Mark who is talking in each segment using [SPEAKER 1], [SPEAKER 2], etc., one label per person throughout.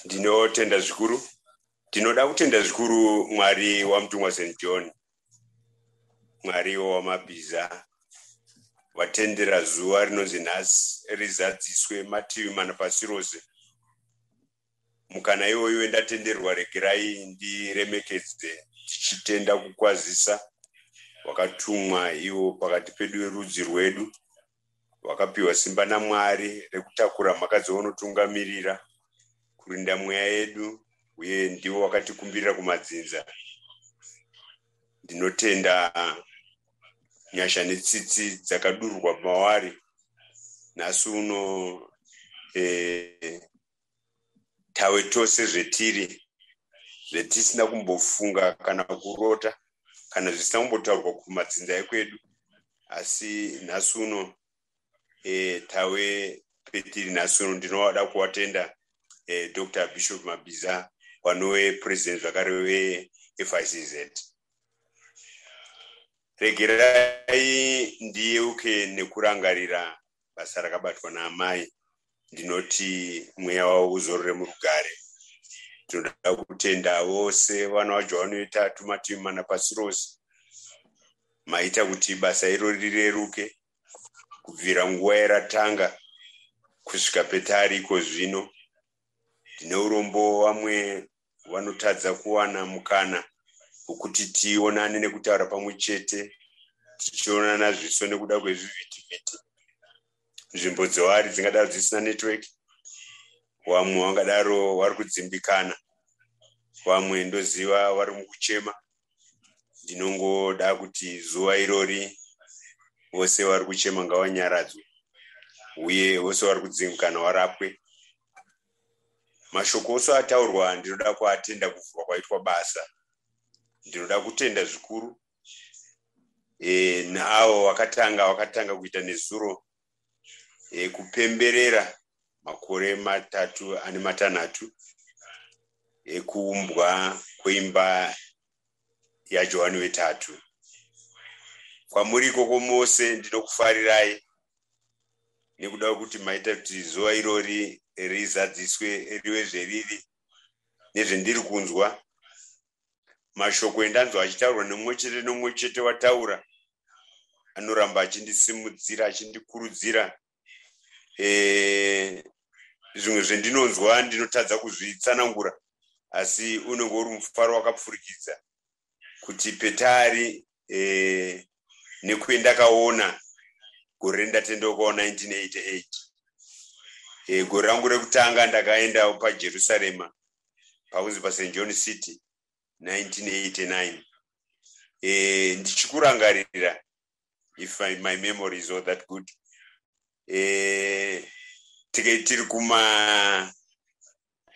[SPEAKER 1] ndinotenda zvikuru ndinoda kutenda zvikuru mwari wamutumwa st john mwariwo wamabhiza watendera zuva rinonzi nhasi rizadziswe mativi mana pasi rose mukana iwoyo wendatenderwa regerai ndiremekedze tichitenda kukwazisa wakatumwa iwo pakati pedu verudzi rwedu Wakapiwa simba naMwari rekutakura mhaka dzaunotungamirira, kurinda mweya yedu, uye ndiwo wakatikumbirira kumadzinza. Ndinotenda nyasha netsitsi dzakadururwa mawari nhasi uno e, tawe tose zvetiri zvetisina kumbofunga kana kurota kana zvisina kumbotaurwa kumadzinza ekwedu asi nhasi uno e, tawe petiri nhasi uno ndinoda kuwatenda e, eh, dr bishop mabiza wanove president zvakare wefizz regerai ndiyeuke nekurangarira basa rakabatwa naamai ndinoti mweya wavo uzorore murugare tinoda kutenda vose vana vacho vanoita tumativi mana pasi rose maita kuti basa iro rireruke kubvira nguva yaratanga kusvika petari iko zvino ndine urombo vamwe vanotadza kuwana mukana wekuti tionane nekutaura pamwe chete tichionana zviso nekuda kwezvivhitivhiti nzvimbo dzoari dzingadaro dzisina network vamwe vangadaro vari kudzimbikana vamwe ndoziva vari mukuchema ndinongoda kuti zuva irori vose vari kuchema ngavanyaradzwe uye vose vari kudzimbikana varapwe mashoko ose ataurwa ndinoda kuatenda kuvhurwa kwaitwa basa ndinoda kutenda zvikuru e, naawo wakatanga wakatanga kuita nezuro e, kupemberera makore matatu ane matanhatu ekuumbwa kweimba yajohani wetatu kwamuri ikoko mose ndinokufarirai nekuda kwekuti maita kuti zuva irori rizadziswe rive zveriri nezvendiri kunzwa mashoko endanzwa achitaurwa nemumwe chete nomumwe chete wataura anoramba achindisimudzira achindikurudzira eh, zvimwe zvendinonzwa ndinotadza kuzvitsanangura asi unenge uri mufaro wakapfurikidza kuti petari eh, nekuendakaona gore rendatendeukawo 1988 eh, gore rangu rekutanga ndakaenda pajerusarema pakunzi past john city 1989 eh, ndichikurangarira if I, my memory is all that good eh, tiri kuma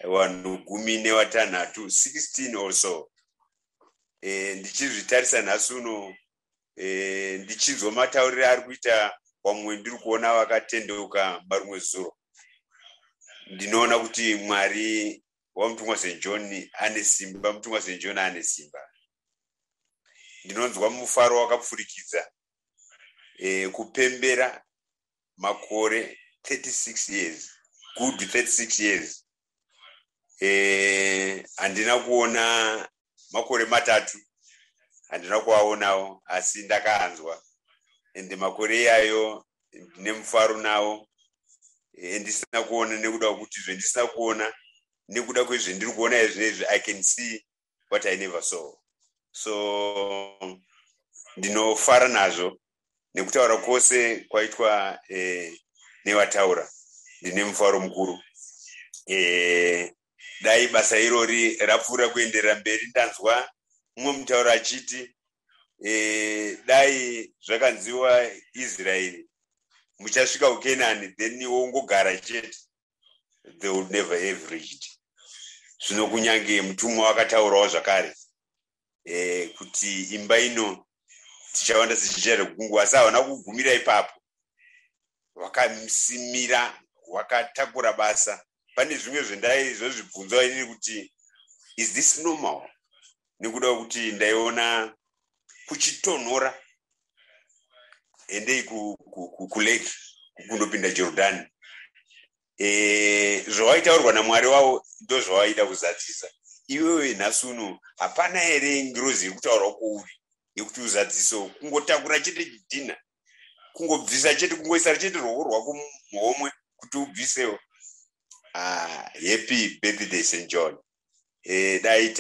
[SPEAKER 1] vanhu gumi nevatanhatu 16 or so eh, ndichizvitarisa nhasi uno eh, ndichinzwa matauriro ari kuita vamwe ndiri kuona vakatendeuka marumwe zuro ndinoona kuti mwari wamutumwa st john ane simba mutumwa st john ane simba ndinonzwa mufaro wakapfurikidza e, kupembera makore 36 years good 36 years e, handina kuona makore matatu handina kuvaonawo asi ndakaanzwa and makore iyayo ndine mufaro nawo endisina kuona nekuda kwekuti zvendisina kuona nekuda kwezvendiri kuona izvinezvi i can see what i never saw so ndinofara nazvo nekutaura kwose kwaitwa eh, nevataura ndine mufaro mukuru eh, dai basa irori rapfuura kuenderera mberi ndanzwa mumwe mutauro achiti e, dai zvakanziwa israeri muchasvika kukenani then wongogara chete they will never have reached zvino kunyange mutumwa wakataurawo zvakare eh, kuti imba ino tichawanda tichichera kugungu asi havana kugumira ipapo wakasimira wakatakura basa pane zvimwe zvendaizozvibvunzwa inini kuti is this normal nekuda kuti ndaiona kuchitonhora endei kulake kundopinda jordan e, zvawaitaurwa namwari wavo ndozvawaida kuzadzisa iwewe nhasi uno hapana here ngirozi iri kutaurwa kwouri yekuti uzadziso kungotakura chete chidhina kungobvisa chete kungoisa chete ruoko rwako muhomwe kuti ubvisewo ah, happy birthday st john e, dai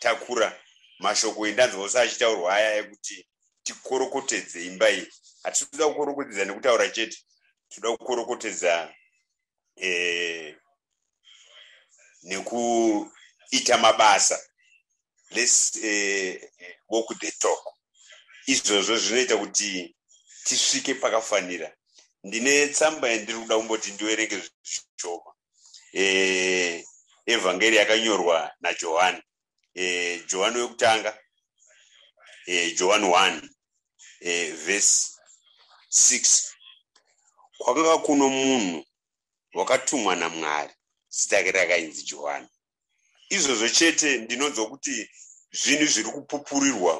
[SPEAKER 1] takura mashoko endanzwa ose achitaurwa aya ekuti tikorokotedze imba iyi hatisi kuda kukorokotedza nekutaura chete tinoda kukorokotedza e, nekuita mabasa let's uh, walk the talk izvozvo zvinoita kuti tisvike pakafanira ndine tsamba yandiri kuda kumboti ndiverenge zvishoma eh, evhangeri yakanyorwa najohani eh, johani wekutanga eh, johani 1 eh, vhesi 6 kwakanga kuno munhu wakatumwa namwari zita rake rakainzi johani izvozvo chete ndinonzwa kuti zvinhu zviri kupupurirwa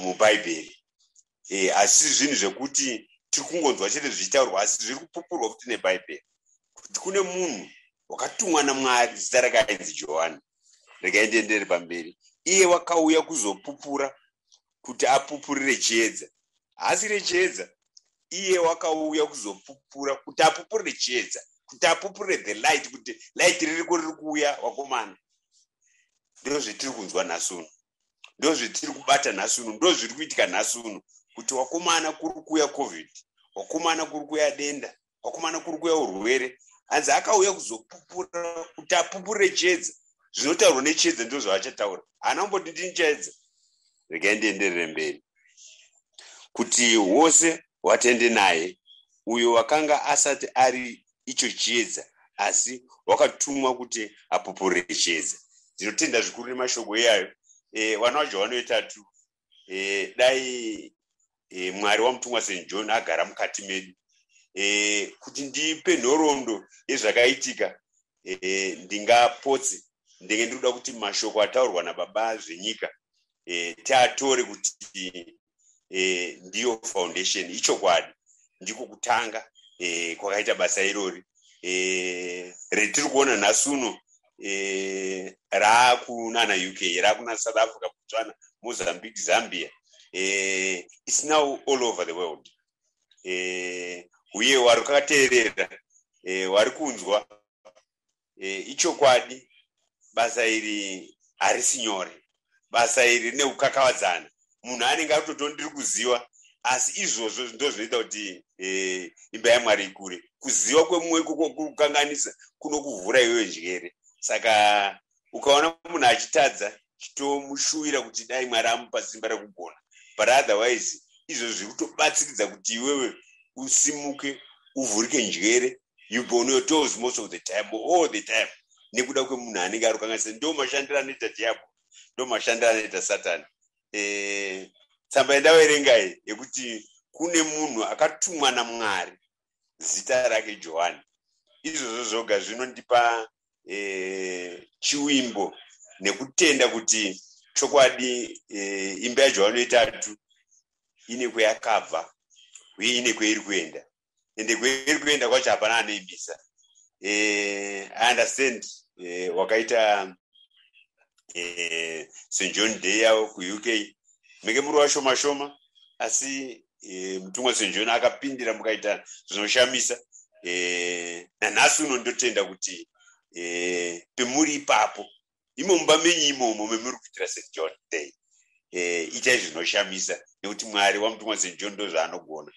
[SPEAKER 1] mubhaibheri eh, asi zvinhu zvekuti tiri kungonzwa chete zvichitaurwa asi zviri kupupurwa futi nebhaibheri kuti kune munhu wakatumwa namwari zita rake ainzi johani regai ndiendere pamberi iye wakauya kuzopupura kuti apupurire chiedza haasi rechiedza iye wakauya kuzopupura kuti apupurire chiedza kuti apupurire the light kuti light ririko riri kuuya wakomana ndo zvetiri kunzwa nhasi uno ndo zvetiri kubata nhasi uno ndo zviri kuitika nhasi uno kuti wakomana kuri kuuya covid wakomana kuri kuuya denda kwakumana kuri kuya urwere hanzi akauya kuzopupura kuti apupure chiedza zvinotaurwa nechiedza ndizvo zvaachataura haana kumboti ndini chaedza regai ndienderere mberi kuti wose watende naye uyo wakanga asati ari icho chiedza asi wakatumwa kuti apupure chiedza ndinotenda zvikuru nemashoko iyayo e, eh, vana vajohwani vetatu e, dai e, mwari wamutumwa st john agara mukati medu e, kuti ndipe nhoroondo yezvakaitika e, ndingapotse ndenge ndiri kuda kuti mashoko ataurwa nababa zvenyika e, tiatore kuti e, ndiyo foundation ichokwadi ndiko kutanga e, kwakaita basa irori e, retiri kuona nhasi uno eh, raakunana uk raakuna south africa botswana mozambique zambia eh, its now all over the world eh, uye wari kakateerera eh, wari kunzwa eh, ichokwadi basa iri harisi nyore basa iri rine kukakavadzana munhu anenge akutoto ndiri kuziva asi izvozvo ndozvinoita kuti eh, imba yamwari ikure kuziva kwemumwe ikoko kuri kukanganisa kunokuvhura iyoyo njere saka ukaona munhu achitadza chitomushuwira kuti dai mwari amupa simba rekugona but otherwise izvozvo zviri kutobatsiridza kuti iwewe usimuke uvhurike njere you be on your toes most of the time all the time nekuda kwemunhu anenge ari kukanganisa ndo mashandiro anoita diabo ndo mashandiro anoita satani e, tsamba yendavaerengai yekuti kune munhu akatumwa namwari zita rake johani izvozvo zvoga zvinondipa e, chiwimbo nekutenda kuti chokwadi e, imba yajohani yetatu ine kweyakabva uye ine kweiri kuenda ende kweri kuenda kwacho hapana anoibisa eh, i understand eh, wakaita eh, st john day yavo kuuk menge muri washoma shoma asi eh, mutumwa st john akapindira mukaita zvinoshamisa eh, nanhasi uno ndotenda kuti eh, pemuri ipapo imo mumba menyu imomo memuri kuitira st john day eh, itai zvinoshamisa nekuti mwari wamutumwa st john ndo zvaanogona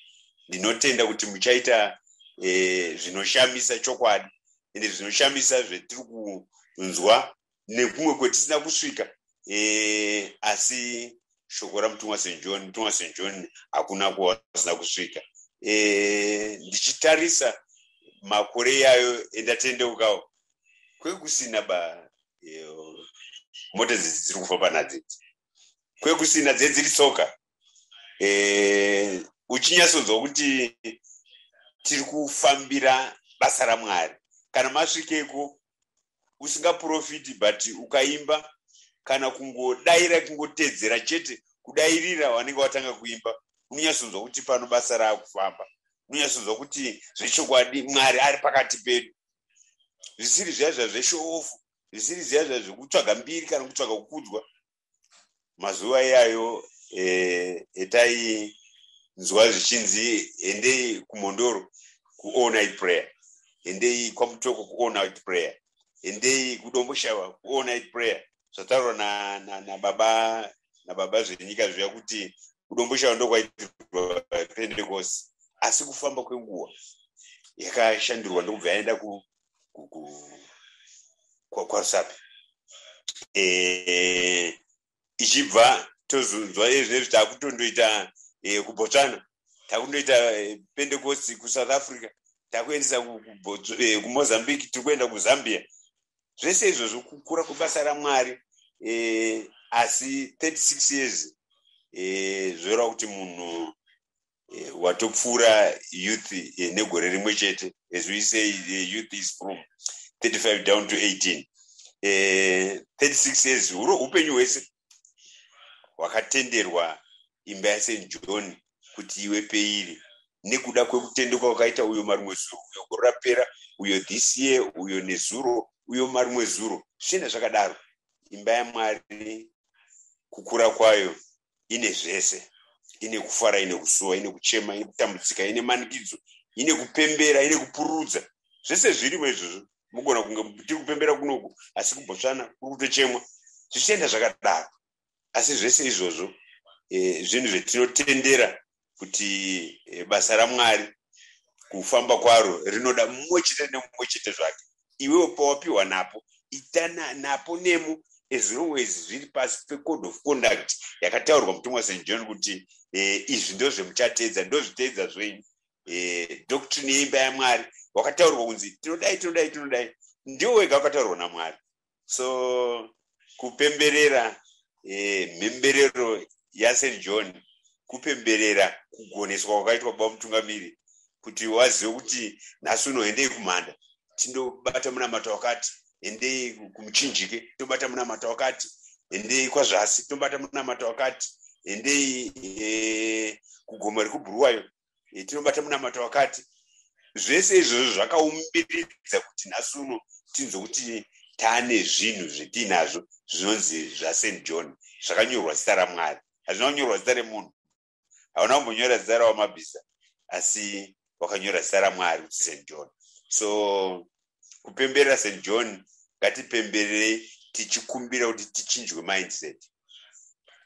[SPEAKER 1] ndinotenda kuti muchaita eh, zvinoshamisa chokwadi ende zvinoshamisa zvetiri kunzwa nekumwe kwetisina kusvika eh, asi shoko ramutumwa st john mutumwa st john hakuna kwawasina kusvika ndichitarisa makore yayo endatendeukawo kwekusina ba mota dzidzi dziri kufamba nadzidzi kwekusina dzedziri tsoka eh, uchinyatsonzwa kuti tiri kufambira basa ramwari kana masvikeko usingaprofiti but ukaimba kana kungodaira kungotedzera chete kudairira wanenge watanga kuimba unonyatsonzwa kuti pano basa raakufamba unonyatsonzwa kuti zvechokwadi mwari ari pakati pedu zvisiri zviya zviya zveshoofu zvisiri zviya zviya zvekutsvaga mbiri kana kutsvaga kukudzwa mazuva iyayo eh, etainzwa zvichinzi endei kumhondoro kuall night prayer endei kwamutoko kuall night prayer endei kudomboshava kuall night prayer zvataurwa nababa na, na nababa zvenyika zviya kuti kudomboshava ndokwaitirwa pentecost asi kufamba kwenguva yakashandirwa ndokubva yaenda kwarusapi e, ichibva tozonzwa ezvinezvi takutondoita e, kubotswana takundoita e, pentecost kusouth africa takuendesa kumozambique tiri kuenda kuzambia zvese izvozvo kukura kwebasa ramwari eh, asi 36 years eh, zvoreva kuti munhu eh, watopfuura youth eh, negore rimwe chete as we say eh, youth is from 35 down to 18 eh, 36 years huro upenyu hwese hwakatenderwa imba yasen john kuti iwe peiri nekuda kwekutendeka wakaita uyo marimwe zuro uyo gore rapera uyo this year uyo nezuro uyo marimwe zuro zvichienda zvakadaro imba yamwari kukura kwayo ine zvese ine kufara ine kusuwa ine kuchema ine kutambudzika ine manikidzo ine kupembera ine kupururudza zvese zvirimo izvozvo mugona kunge tiri kupembera kunoku asi kubotsvana kuri kutochemwa zvichienda zvakadaro asi zvese izvozvo eh, zvinhu zvetinotendera kuti eh, basa ramwari kufamba kwaro rinoda mumwe chete nemumwe chete zvake iwewo pawapiwa napo ita napo nemo as long as zviri pasi pecode of conduct yakataurwa mutumwa st john kuti eh, izvi ndo zvemuchateedza ndozviteedza zvenyu doctrine yeimba yamwari wakataurwa kunzi tinodai tinodai tinodai ndiwo wega wakataurwa namwari so kupemberera eh, mhemberero yasen john kupemberera kugoneswa kwakaitwa baba mutungamiri kuti wazive kuti nhasi unoendei kumhanda tindobata munamato wakati endei kumuchinjike tobata munamato wakati endei kwazvasi tobata munamato wakati endei eh, kugomo rekubhuruwayo tinobata munamato wakati zvese izvozvo zvakaumbiridza kuti nhasi uno tinzwe kuti tane zvinhu zvetiinazvo zvinonzi zvasent john zvakanyorwa zita ramwari hazvina kunyorwa zita remunhu hauna kumbonyora zita rawamabhiza asi wakanyora zita ramwari kuti sent john so kupemberera st john ngatipembererei tichikumbira kuti tichinjwe mindset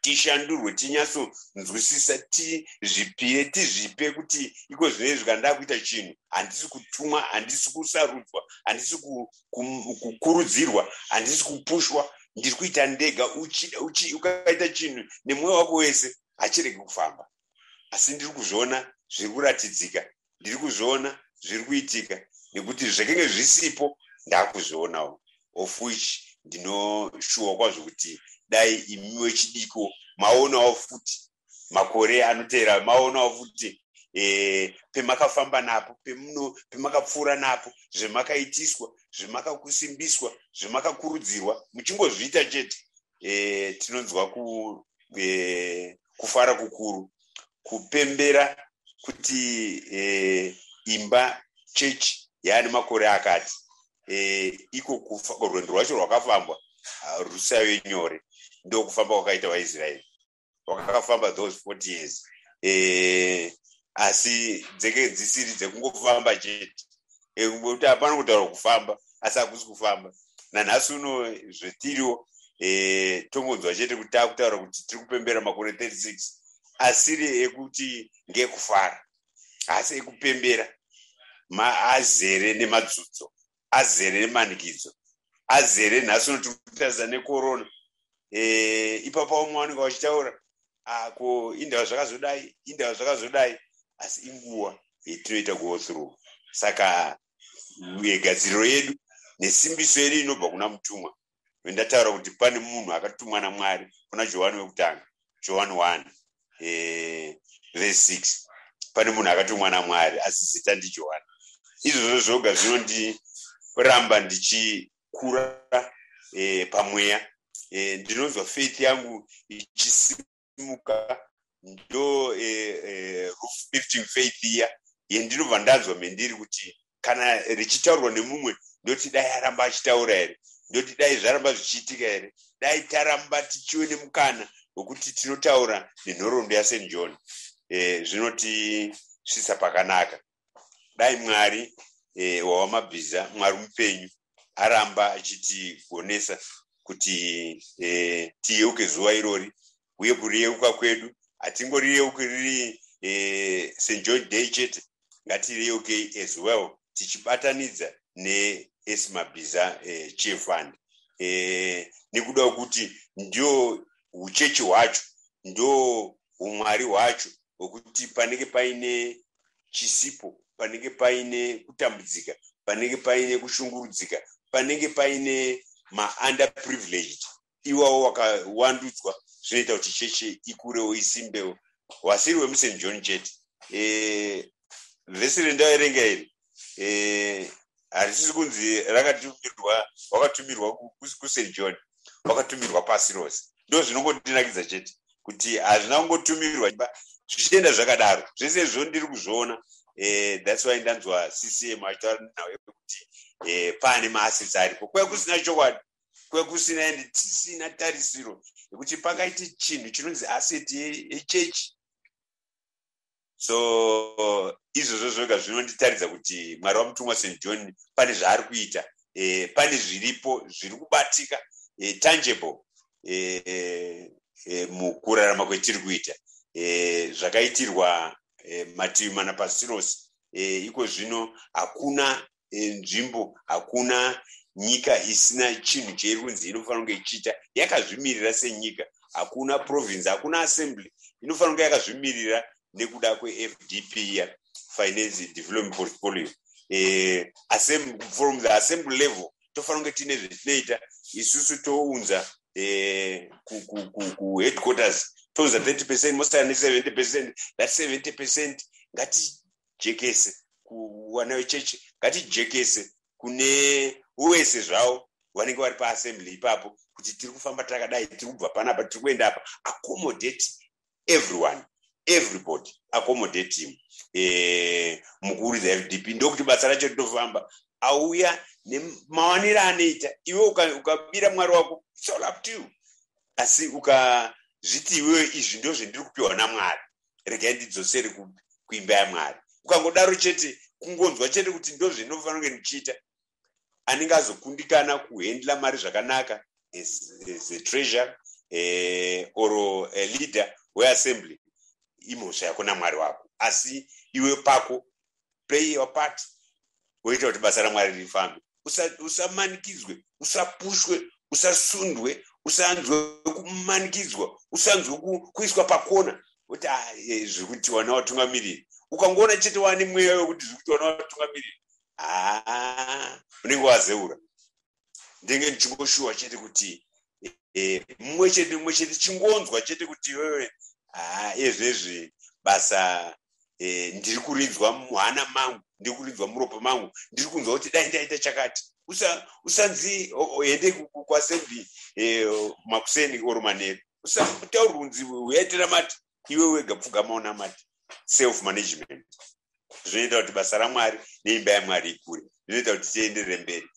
[SPEAKER 1] tishandurwe tinyatsonzwisisa tizvipire tizvipe kuti iko zvine izvi kana ndakuita chinhu handisi kutumwa handisi kusarudzwa handisi kukurudzirwa handisi kupushwa ndiri kuita ndega ukaita chinhu nemwoyo wako wese hachiregi kufamba asi ndiri kuzviona zviri kuratidzika ndiri kuzviona zviri kuitika nekuti zvekenge zvisipo ndakuzvionawo of which ndinoshuwa kwazvo kuti dai imiwe chidiko maonawo futi makore anoteera maonawo futi eh, pemakafamba napo pemakapfuura napo zvemakaitiswa zvemakakusimbiswa zvemakakurudzirwa muchingozviita chete e, tinonzwa ku, e, kufara kukuru kupembera kuti e, imba chechi yaane makore akati e, iko rwendo rwacho rwakafambwa rusave nyore ndokufamba kwakaita vaisraeri wakafamba those forty years eh, asi dzeke dzisiri dzekungofamba chete eh, kuti hapana kutaura kufamba asi hakusi kufamba nanhasi uno zvetiriwo eh, tongonzwa chete kuti takutaura kuti tiri kupembera makore 36 asiri ekuti ngekufara asi ekupembera azere nemadzudzo azere nemanikidzo azere nhasi unoti kutadza nekorona eh, ipapo vamwe vanenge vachitaura ah, ko indava zvakazodai indava zvakazodai asi inguva yetinoita go through saka gadziriro yedu nesimbiso yedu inobva kuna mutumwa vendataura kuti pane munhu akatumwa namwari kuna johani wekutanga johani 1 eh, vese 6 pane munhu akatumwa namwari asi zita ndijohani izvozvo zvoga zvinondiramba ndichikura e, pamweya e, ndinonzwa faith yangu ichisimba ndosimuka ndo eh, eh, roof lifting faith iya yendinobva ndanzwa mendiri kuti kana richitaurwa nemumwe ndoti dai aramba achitaura here ndoti dai zvaramba zvichiitika here dai taramba tichiwe nemukana wekuti tinotaura nenhoroondo yasen john eh, zvinoti svisa pakanaka dai mwari eh, wawamabhiza mwari mupenyu aramba achitigonesa kuti eh, tiyeuke zuva irori uye kuriyeuka kwedu hatingoriyeuki riri eh, st john day chete ngatireyeukei as well tichibatanidza neesimabhiza eh, chief fund eh, nekuda kwekuti ndio uchechi hwacho ndo umwari hwacho hwekuti panenge paine chisipo panenge paine kutambudzika panenge paine kushungurudzika panenge paine maunda privileged iwawo wakawandudzwa zvinoita kuti cheche ikurewo isimbewo wasiri wemusen john chete e, vhesi rendaverenga iri e, harisisi kunzi rakatumirwa wakatumirwa kust john wakatumirwa pasi rose ndo zvinongotinakidza chete kuti hazvina kungotumirwa zvichienda zvakadaro zvese izvo ndiri kuzviona eh, thats why ndanzwa ccm achitaura nhau yekuti eh, pane maassets aripo kuya kusina chokwadi kuya kusina and tisina tarisiro yekuti pakaite chinhu chinonzi asset yechechi so izvozvo zvoga zvinonditaridza kuti mwari wamutumwa st john pane zvaari kuita eh, pane zviripo zviri kubatika eh, tangible eh, eh, eh mukurarama kwetiri kuita eh, zvakaitirwa eh, mativi mana pasirosi eh, iko zvino hakuna eh, nzvimbo hakuna nyika isina chinhu cheiri kunzi inofanira kunge ichiita yakazvimirira senyika hakuna province hakuna assembly inofanira kunge yakazvimirira nekuda kwefdp ya finance development portfolio eh, from the assembly level tofanira kunge tiine zvetinoita isusu tounza eh, kuheadquarters tounza 30 percent mosana ne 70 percent that 70 percent ngati ngatijekese kuwana vechechi ngatijekese kune wese zvavo vanenge vari paassembly ipapo kuti tiri kufamba takadai tiri kubva panapa tiri kuenda apa accommodate everyone everybody accommodate him eh, mukuru the fdp ndokuti basa racho rinofamba auya nemawaniro anoita iwe ukabira mwari wako it's all up to you asi ukazviti iwewe izvi ndozvendiri kupiwa namwari regai ndidzosere kuimba yamwari ukangodaro chete kungonzwa chete kuti ndozvendinofanira kunge ndichiita anenge azokundikana kuhendla mari zvakanaka as, as a treasure eh, or a leader weassembly imhosva yako namwari wako asi iwe pako play your part woita kuti basa ramwari rifambe usamanikidzwe usa usapushwe usasundwe usanzwe kumanikidzwa usanzwe kuiswa pakona kuti ah, eh, zviri kuti wana watungamiriri ukangoona chete wane mweya wekuti zviri kuti wana watungamiriri haa ah, unenge wazeura ndenge ndichingoshuwa chete kuti eh, mumwe chete mumwe chete chingonzwa chete kuti wewe haa ezvezvi basa eh, ndiri kurinzwa muhana mangu ndiri kurinzwa muropa mangu ndiri kunzwa kuti dai ndaita chakati usanzi ende kwasembi eh, makuseni oro manheru usataurwa kunzi uyaitira mati iwe wega pfugama unamati self management zvinoita kuti basa ramwari neimba yamwari ikure zvinoita kuti tienderere mberi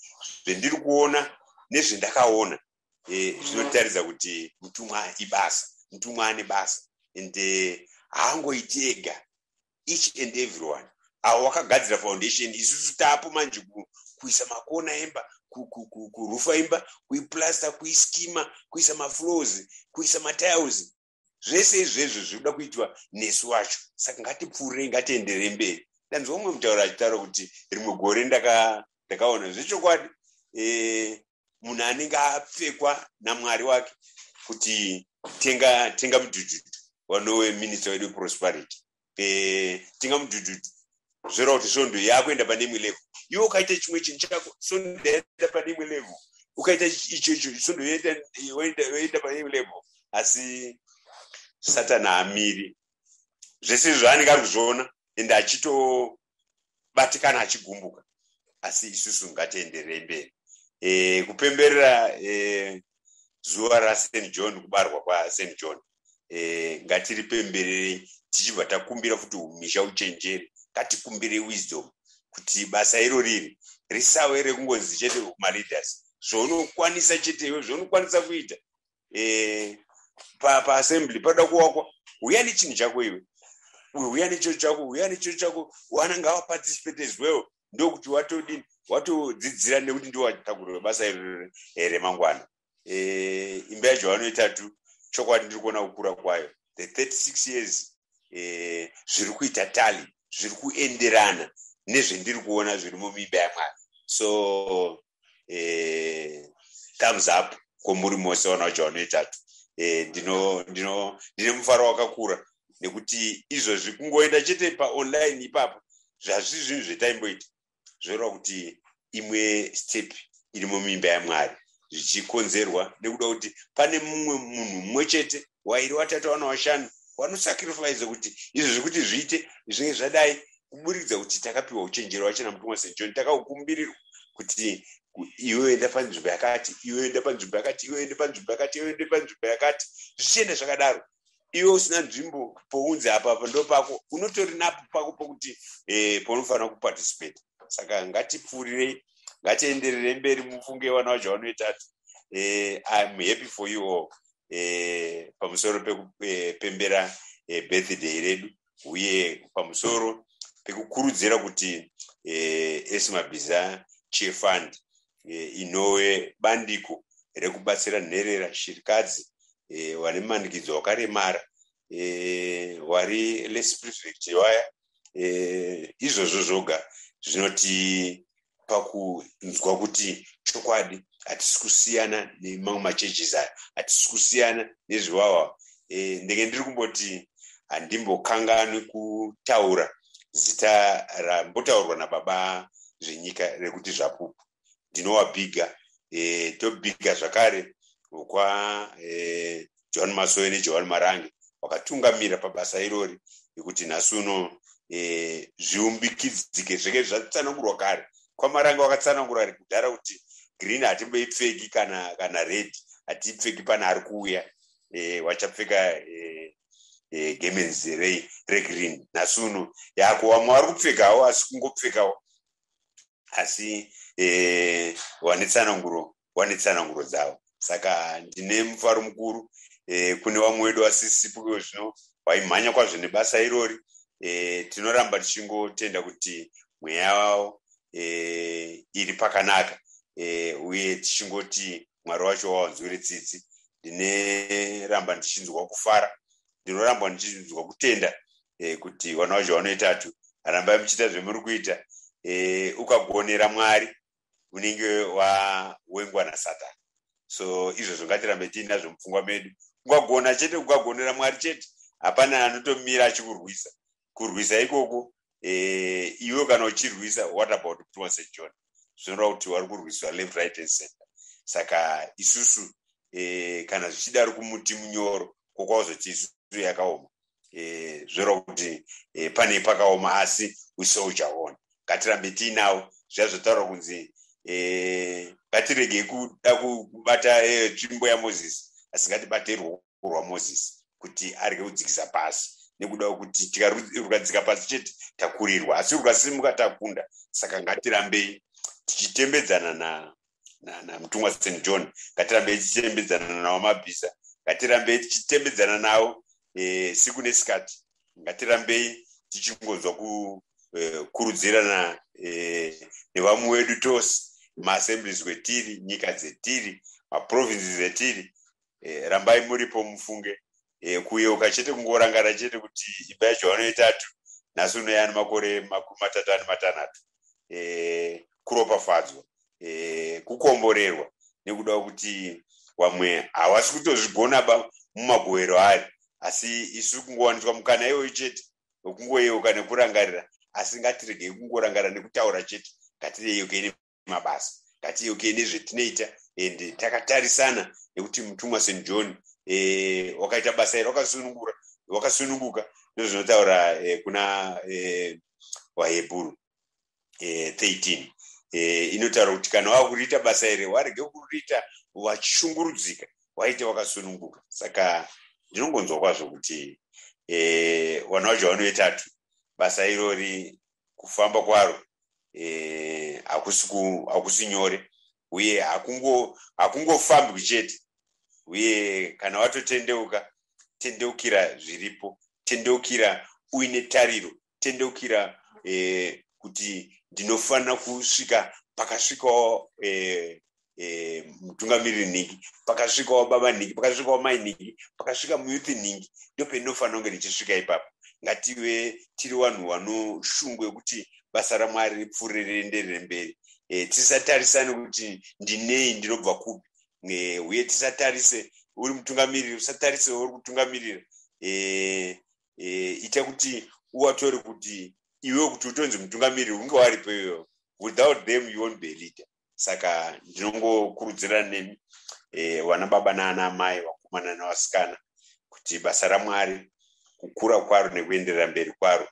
[SPEAKER 1] zvendiri kuona nezvendakaona eh, zvinotaridza kuti mutumwa ibasa mutumwa ane basa and eh, haangoiti ega each and everyone avo vakagadzira foundation isusu taapo manje kuisa makona emba kurufa imba kuiplasta kuiskima kuisa maflows kuisa matiles zvese izvezvo zvinoda kuitwa nesu wacho saka ngatipfuurei ngatienderei mberi ndanzwa umwe mutauro achitaura kuti rimwe gore ndakaona zvechokwadi eh, munhu anenge apfekwa namwari wake kuti tenga tenga mujujuju wanowe minista wedu prosperity petinga mudhudhudhu zvora kuti svondo yakuenda pane imwe level iwe ukaita chimwe chinhu chako svondo yaenda pane imwe level ukaita icho icho svondo yoenda pane imwe level asi satani haamiri zvese izvo zvaanenge ari kuzviona ende achito achibatikana achigumbuka asi isusu ngatienderei mberi e, kupemberera e, zuva raSt John kubarwa kwaSt John e, ngatiripembererei tichibva takumbira kuti umisha uchenjeri ngatikumbirei wisdom kuti basa iro riri risave rekungonzi chete kumaleaders zvaunokwanisa chete iwe zvaunokwanisa kuita eh, paassembly panoda kuwakwa huya nechinhu chako iwe huya necho chako huya necho chako wanenge awaparticipate as well ndokuti watodini watodzidzira nekuti ndiwatakurira basa irore here mangwana eh, imba yacho vanoita tu chokwadi ndiri kuona kukura kwayo the 36 years eh, zviri kuita tali zviri kuenderana nezvendiri kuona zviri mumimba yamwari so eh, thumbs up kwomuri mose ona uja vanoitatu eh, ndino ndino ndine mufaro wakakura nekuti izvozvi kungoenda chete paonline ipapo zvazvi zvinhu zvetaimboita zvoreva kuti imwe step iri mumimba yamwari zvichikonzerwa nekuda kuti pane mumwe munhu mumwe chete wairi watatu wana washanu wanosacrifice kuti izvo zvekuti zviite zvinge zvadai kuburikidza kuti takapiwa uchenjeri wacho namutumwa st john takakukumbirirwa kuti iwe enda panzvimbo yakati iwe enda panzvimbo yakati iwe enda panzvimbo yakati iwe enda panzvimbo yakati zvichienda zvakadaro iwe usina nzvimbo pounzi apa apa ndo pako unotori napo pako pokuti eh, paunofanira kuparticipate saka ngatipfuurirei ngatienderere mberi mufunge vana vacho vanoitatu eh, iam happy for you all eh, pamusoro pekupembera eh, eh, birthday redu uye pamusoro pekukurudzira kuti eh, esimabhiza cheer fund eh, inove bandiko rekubatsira nherera shirikadzi eh, vane manikidzo wakaremara hwari e, less privilege waya e, izvozvo zvoga zvinotipa kunzwa kuti chokwadi hatisi kusiyana nemamwe macheches aya hatisi kusiyana nezviwawa e, ndenge ndiri kumboti handimbokanganwi kutaura zita rambotaurwa nababa zvenyika rekuti zvapupu ndinowabiga e, tobiga zvakare kwa e, eh, john masowe nejohani marange vakatungamira pabasa irori yekuti nhasi uno e, zviumbikidzike zvenge zvatsanangurwa kare kwamarange wakatsanangura ari kudhara kuti green hatimboipfeki kana kana red hatiipfeki pana ari kuuya e, wachapfeka e, e, gemenzi regreen nhasi uno yako vamwe vari kupfekawo asi kungopfekawo asi eh, vane tsananguro vane tsananguro dzavo saka ndine mufaro mukuru eh, kune vamwe wedu vasisipo ivo zvino vaimhanya kwazvo nebasa irori eh, tinoramba tichingotenda kuti mweya vavo eh, iri pakanaka eh, uye tichingoti mwari wacho wawanzwire tsitsi ndineramba ndichinzwa kufara ndinorambwa ndichinzwa kutenda eh, kuti vana wazvo vanoitatu rambai muchiita zvemuri kuita eh, ukagonera mwari unenge wawengwa nasatani so izvozvo ngatirambe tiinazvo mupfungwa medu ungagona chete ukagonera mwari chete hapana anotomira achikurwisa kurwisa ikoko eh, iwe kana uchirwisa what about prima st john zvinoreva kuti wari kurwiswa left right and center saka isusu eh, kana zvichidaro kumuti munyoro kokwazoti isusu yakaoma eh, zvinoreva kuti eh, pane pakaoma asi usoujawona ngatirambe tiinawo zviya zvotaura kunzi eh, ngatiregei kuda kubata eh, tsvimbo yamozisi asi ngatibaterwo kurwa moses kuti arege kudzikisa pasi nekuda kwekuti tikarukadzika pasi chete takurirwa asi rukasimuka takunda saka ngatirambei tichitembedzana na namutumwa na, na st john ngatirambei tichitembedzana nawo mabhiza ngatirambei tichitembedzana nawo e, siku nesikati ngatirambei tichingonzwa kukurudzirana e, eh, e, eh, nevamwe wedu tose maassemblies wetiri nyika dzetiri maprovinces etiri eh, rambai muripo mufunge eh, kuyeuka chete kungorangana chete kuti imba yacho vanoitatu nhasi unoyani makore makumi matatu ani matanhatu eh, kuropafadzwa eh, kukomborerwa nekuda kuti vamwe havasi kutozvigona ba mumagohero ayo asi isu kungowaniswa mukana iyoyo chete wekungoyeuka nekurangarira asi ngatiregei kungorangarira nekutaura chete ngatireyeuke mabasa ngatiyeukei nezvetinoita and takatarisana nekuti mutumwa st john eh, wakaita basa iri wakasunungura wakasununguka ndozvinotaura eh, kuna eh, vahebhuru 13 inotaura kuti kana wava kuriita basa iri warege kuriita wachishungurudzika waite wakasununguka saka ndinongonzwa kwazvo kuti vana vacho vanovetatu basa irori kufamba kwaro eh, hakusi hakusi nyore uye hakungofambwi chete uye kana watotendeuka tendeukira zviripo tendeukira uine tariro tendeukira eh, kuti ndinofanira kusvika pakasvikawo eh, eh, mutungamiriri nhingi pakasvikawo baba nhingi pakasvikawo mai nhingi pakasvika muyuthi nhingi ndopendinofanira kunge ndichisvika ipapo ngative tiri vanhu vanoshungu yekuti basa ramwari ripfuure rienderere mberi eh, tisatarisane kuti ndinei ndinobva kupi eh, uye tisatarise uri mutungamiriri usatarise uri kutungamirira ita kuti uvatore kuti iwe kuti utonzi mutungamiriri unge waripo iwewo without them you won't be leader saka ndinongokurudzira nemi e, vana baba naana amai vakomana navasikana kuti basa ramwari kukura kwaro nekuenderera mberi kwaro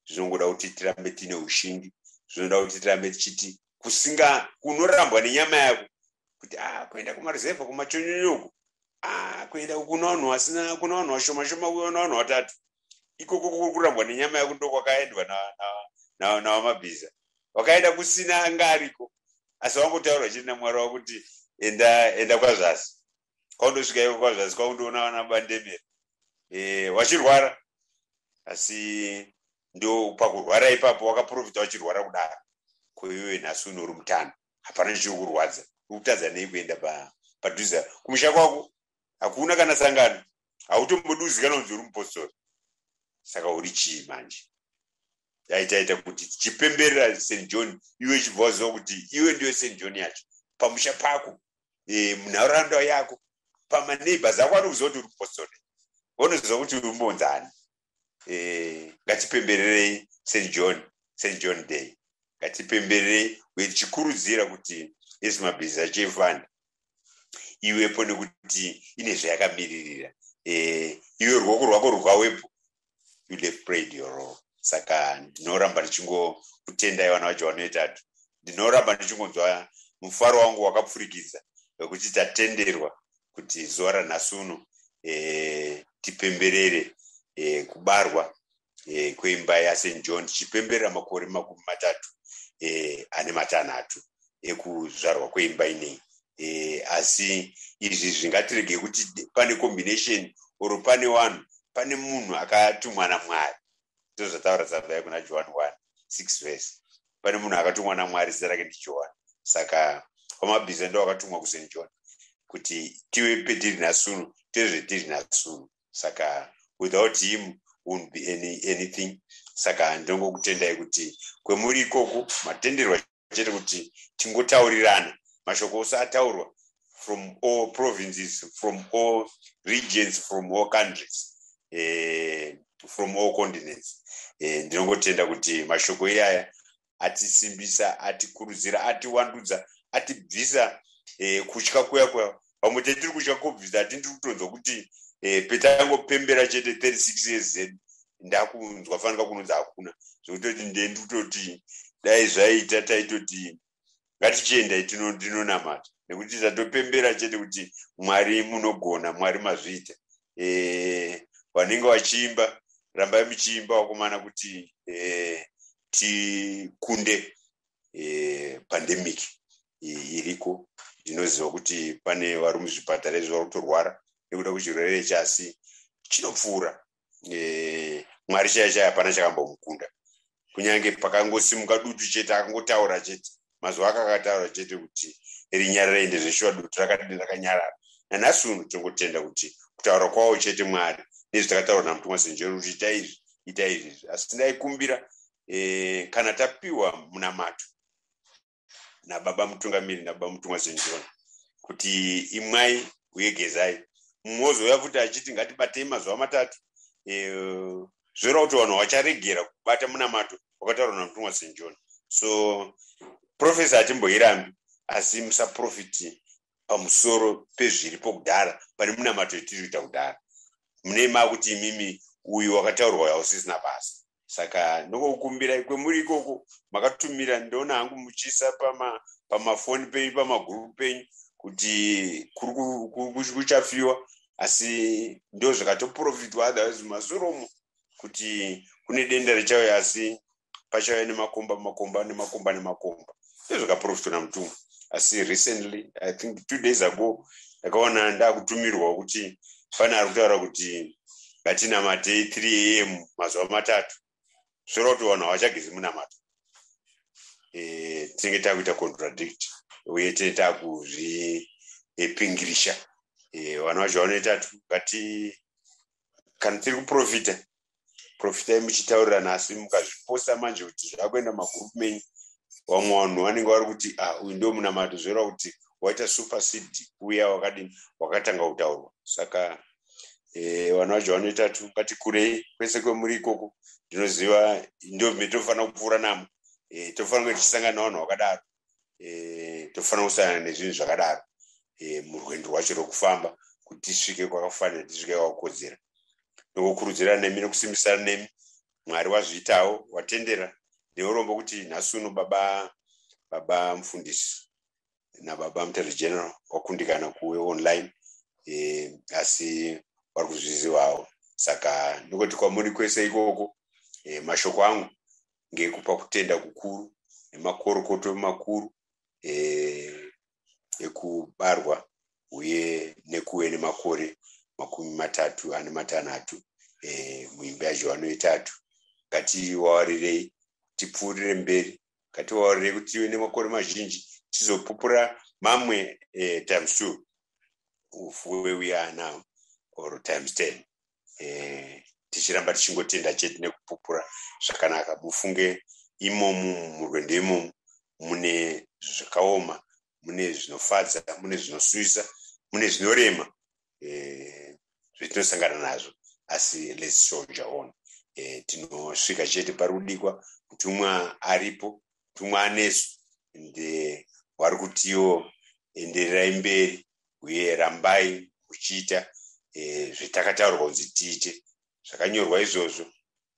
[SPEAKER 1] zvinongoda kuti tirambe tiine ushingi zvinoda kuti tirambe tichiti kusinga kunorambwa nenyama yako kuti a ah, kuenda kumaruzevha kumachonyonyoko a ah, kuenda kuna vanhu vasina kuna vanhu vashoma shoma kuona vanhu vatatu ikoko kurambwa nenyama yako ndokwakaendwa navamabhiza wakaenda kusina anga ariko asi wangotaurwa chiri namwari wavo kuti enda enda kwazvasi kwaundosvika iko kwazvasi kwaundoona vana bandemera eh, wachirwara asi ndo pakurwara ipapo wakaprofita wachirwara kudaro koiwe nhasi unori mutano hapana chichiri kurwadza ukutadza nei kuenda padhuze kumusha kwako hakuna kana sangano hautomboduzika nonzi uri mupostori saka uri chii manje yaitaita kuti tichipemberera st john iwe chibva waziva kuti iwe ndiyo st john yacho pamusha pako e, munharaunda yako pamaneighbors ako anokuziva kuti uri mupostori vonoziva kuti uri mbonzani eh, ngatipembererei st john st john day ngatipembererei uye tichikurudzira kuti isi mabhizi achifund iwepo nekuti ine zvayakamiririra eh, iwe ruoko rwako rwukawepo you have prayed your role saka ndinoramba ndichingokutendai vana vacho vanoitatu ndinoramba ndichingonzwa mufaro wangu wakapfurikidza wekuti tatenderwa kuti zuva ranhasi uno e, tipemberere e, kubarwa e, kweimba yaSt John tichipemberera makore makumi matatu e, ane matanhatu ekuzvarwa kweimba inei e, asi izvi zvingatirege kuti pane combination or pane vanhu pane munhu akatumwa namwari ndozvataura zavai kuna johani wani six verse pane munhu akatumwa namwari zita rake ndijohani saka pamabhiza ndo akatumwa kusaint john kuti tive petiri nasunu tezvetiri nasunu saka without him won't be any, anything saka ndongokutendai kuti kwemuri ikoku matenderwa chete kuti tingotaurirana mashoko ose ataurwa from all provinces from all regions from all countries eh, from all continents eh, ndinongotenda kuti mashoko iyaya atisimbisa atikurudzira atiwandudza atibvisa eh, kutya kuya kuya pamwe tetiri kutya covid ati ndiri kutonzwa kuti eh, petangopembera chete 36 years zed ndakunzwa fanika kunonzi hakuna zvekutoti ndendi kutoti dai zvaita taitoti ngatichiendai tinonamata nekuti tatopembera chete kuti mwari munogona mwari mazviita eh, vanenge vachiimba rambai muchiimba wakomana kuti eh, tikunde eh, pandemic iriko ndinoziva kuti pane vari muzvipatara izvi vari kutorwara nekuda kwechirwere chasi chinopfuura eh, mwari chaya chaya hapana chakambomukunda kunyange pakangosimuka dutu chete akangotaura chete mazuva aka akataura chete kuti rinyarara ende zveshuwa dutu rakadini rakanyarara nanhasi uno tingotenda kuti kutaura kwavo chete mwari nezvi takataura namutumwa senjero kuti ita izvi ita izvi asi ndaikumbira e, kana tapiwa munamato nababa mutungamiri nababa mutumwa zenjona kuti imwai uye gezai mumwe ozouya futi achiti ngatibatei mazuva matatu e, zvoreva kuti vanhu havacharegera kubata munamato wakataurwa namutumwa zenjona so profesa hatimboirambi asi musaprofiti pamusoro pezviripo kudhara pane munamato yatiri kuita kudhara mune makuti imimi uyu wakataurwa uyo hausisina basa saka ndokukumbira ikwe muri ikoko makatumira ndoona hangu muchisa pamafoni pama penyu pamagurupu penyu kuti kuchafiwa asi ndozvakatoprofitwa otherwise mazoromo kuti kune denda richauya asi pachauya nemakomba makomba nemakomba nemakomba ndezvakaprofitwa namutumwa asi recently i think two days ago ndakaona ndakutumirwa kuti pane ari kutaura kuti ngatinamatei 3 am mazuva matatu zvoreva kuti vanhu havachagezi munamato e, eh, tinenge takuita contradict uye tine takuzvipingirisha e, eh, vanhu vacho vanoita tu ngati kana tiri kuprofita profitai muchitaurirana asi mukazviposa manje kuti zvakuenda magroup menyu vamwe vanhu vanenge vari kuti ah, uyu ndo munamato zvoreva kuti waita supersed uya wakadini wakatanga kutaurwa saka eh, vanhu vacho vanoita tu ngati kurei kwese kwemuri ikoko ndinoziva ndo mitofanira kupfuura namo eh, tofanira kunge tichisangana navanhu vakadaro eh, tofanira kusangana nezvinhu zvakadaro eh, murwendo rwacho rwekufamba kuti tisvike kwakafanira tisvike kwakakodzera nokukurudzira nemi nokusimbisana nemi mwari wazviitawo watendera neurombo kuti nhasi uno baba baba mufundisi nababa mutare general wakundikana kuwe online eh, asi vari kuzvizivawo saka ndokoti kwamuri kwese ikoko eh, mashoko angu ngekupa kutenda kukuru nemakorokoto makuru eh, ekubarwa uye nekuve nemakore makumi matatu ane matanhatu eh, muimba yajohano yetatu ngatiwawarirei tipfuurire mberi ngatiwawarirei kuti tive nemakore mazhinji tizopupura mamwe eh, times two of where we are now or times ten eh, tichiramba tichingotenda chete nekupupura zvakanaka mufunge imomu murwendo imomu mune zvakaoma mune zvinofadza mune zvinosuisa mune zvinorema eh, zvetinosangana nazvo asi let's soldier on eh, tinosvika chete pari kudikwa mutumwa aripo mutumwa anesu and eh, wari kutiwo endererai mberi uye rambai muchiita e, zvitakataurwa kunzi tiite zvakanyorwa izvozvo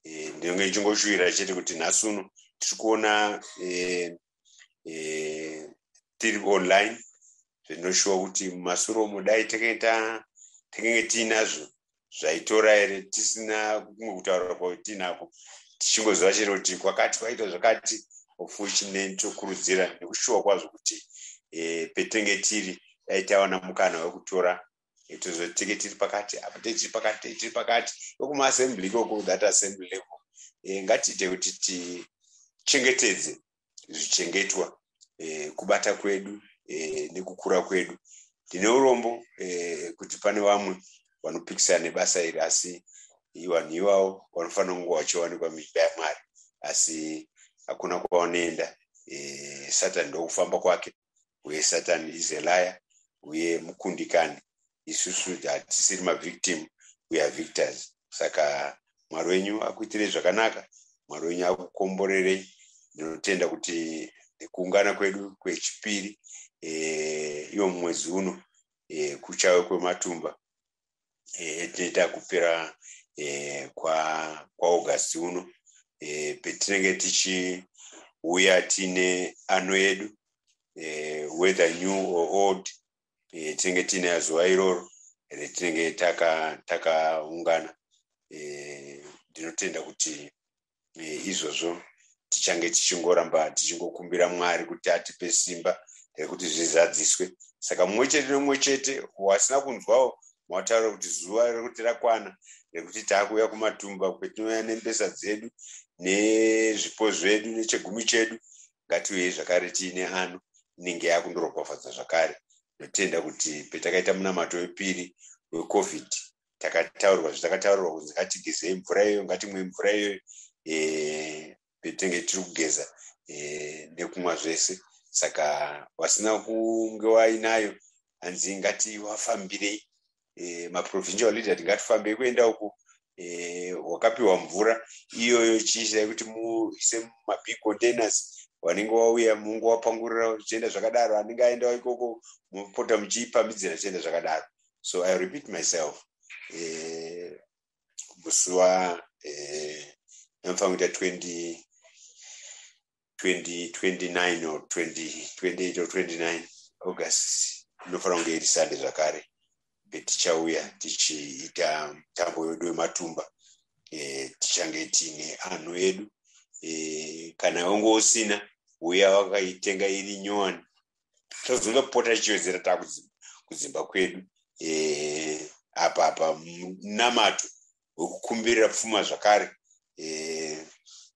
[SPEAKER 1] e, eh, ndinenge ndichingoshuvira chete kuti nhasi uno tiri kuona e, e, tiri online zvinoshuwa kuti mumasuro umo dai takenge tiinazvo zvaitora here tisina kumwe kutaura kwatinako tichingozova chero kuti kwakati kwaita zvakati ofuchineni tokurudzira nekushuwa kwazvo kuti e, petenge tiri dai tawana mukana wekutora e, tozotenge tiri pakati apa tiri pakati tiri pakati wekumaasembly ikoko that assembly level e, ngatiite kuti tichengetedze zvichengetwa eh, kubata kwedu eh, nekukura kwedu ndine urombo eh, kuti pane vamwe vanopikisana nebasa iri asi vanhu ivawo vanofanira kunge vachiwanikwa muimba yamwari asi hakuna kwavanoenda eh, satani ndokufamba kwake uye satani is a liar uye mukundikani isusu hatisiri mavictim we are victors saka mwari wenyu akuitirei zvakanaka mwari wenyu akukomborerei ndinotenda kuti kuungana kwedu kwechipiri e, iwo mumwedzi uno e, kuchave kwematumba yatinoita eh, kupera eh, kwaaugust uno eh, petinenge tichiuya tiine ano yedu whether new or old tinenge tiine azuva iroro retinenge takaungana ndinotenda kuti eh, izvozvo tichange tichingoramba tichingokumbira mwari kuti atipe simba rekuti zvizadziswe saka mumwe chete nomumwe chete wasina kunzwawo mawataura kuti zuva rekuti rakwana rekuti taakuuya kumatumba kwetinouya nembesa dzedu nezvipo zvedu nechegumi chedu ngatiuyei zvakare tiine ano inenge yakundorokwafadza zvakare ndotenda kuti petakaita munamato wepiri wecovid takataurirwa zvatakataurirwa kunzi ngatigezei mvura iyoyo ngatimwe mvura iyoyo eh, petenge tiri kugeza eh, nekumwa zvese saka vasina kunge wainayo hanzi ngati wafambirei eh, maprovincial leader tingatifambei kuenda uku wakapiwa mvura iyoyo chiisai kuti muise mumabig containers wanenge wauya mungu wapangurira zvichienda zvakadaro anenge aendawo ikoko mopota muchiipamhidzira zvichienda zvakadaro so i repeat myself eh, musi wa eh, anofanira kuita 20 2029 or 2028 or 29 august inofanira kunge iri sande zvakare betichauya tichiita mutambo wedu wematumba eh, tichange tiine anhu edu eh, kana wange usina uya wakaitenga iri nyowani tozonge kupota tichiwedzera taa kudzimba kwedu eh, apa apa munamato wekukumbirira pfuma zvakare eh,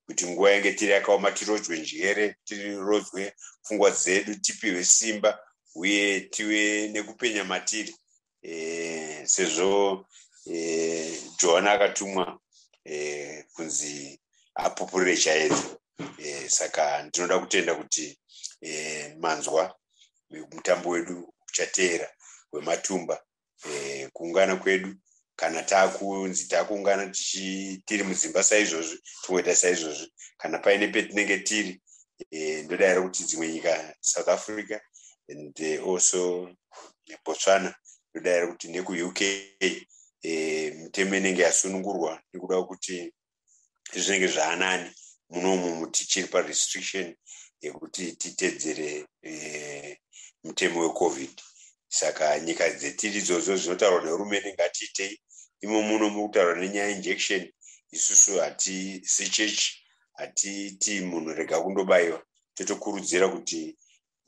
[SPEAKER 1] kuti nguva yange tiri yakaoma tirodzwe njere tirodzwe pfungwa dzedu tipihwe simba uye tive nekupenya matiri sezvo johani akatumwa kunzi apupurire chaedza saka ndinoda kutenda kuti manzwa mutambo wedu uchateera wematumba kuungana kwedu kana takunzi takuungana tiri mudzimba saizvozvi tingoita saizvozvi kana paine petinenge tiri e, ndodaira kuti dzimwe nyika south africa and eh, also nebotswana ndodavira kuti nekuuk eh, mitemo inenge yasunungurwa nekuda kuti zvinenge zvaanani munomu tichiri parestriction yekuti titedzere eh, mutemo wecovid saka nyika dzetiri idzodzo zvinotaurwa nehurumende ngatiitei imo muno mukutaurwa nenyaya injection isusu hatisi chechi hatiiti munhu rega kundobayiwa totokurudzira kuti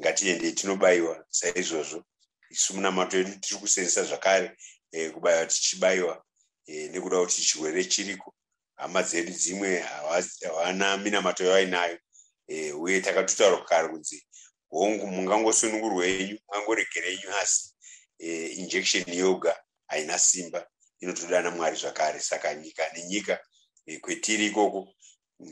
[SPEAKER 1] ngatiendei tinobaiwa saizvozvo isu munamato yedu tiri kusenzesa zvakare eh, kubaiwa tichibaiwa eh, nekuda kuti chirwere chiriko hama dzedu dzimwe havana minamato yavainayo eh, uye takatotaura kare kunzi hongu mungangosunungurwa yenyu mungangoregera yenyu asi eh, injection yoga haina simba inotodana mwari zvakare saka nyika nenyika eh, kwetiri ikoko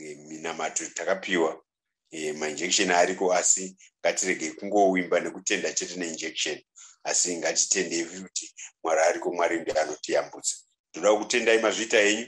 [SPEAKER 1] eh, minamato takapiwa e, mainjection ariko asi ngatiregei kungowimba nekutenda chete neinjection asi ngatitendei kuti mwari ariko mwari ndiye anotiyambutsa tinoda kutendai mazvita enyu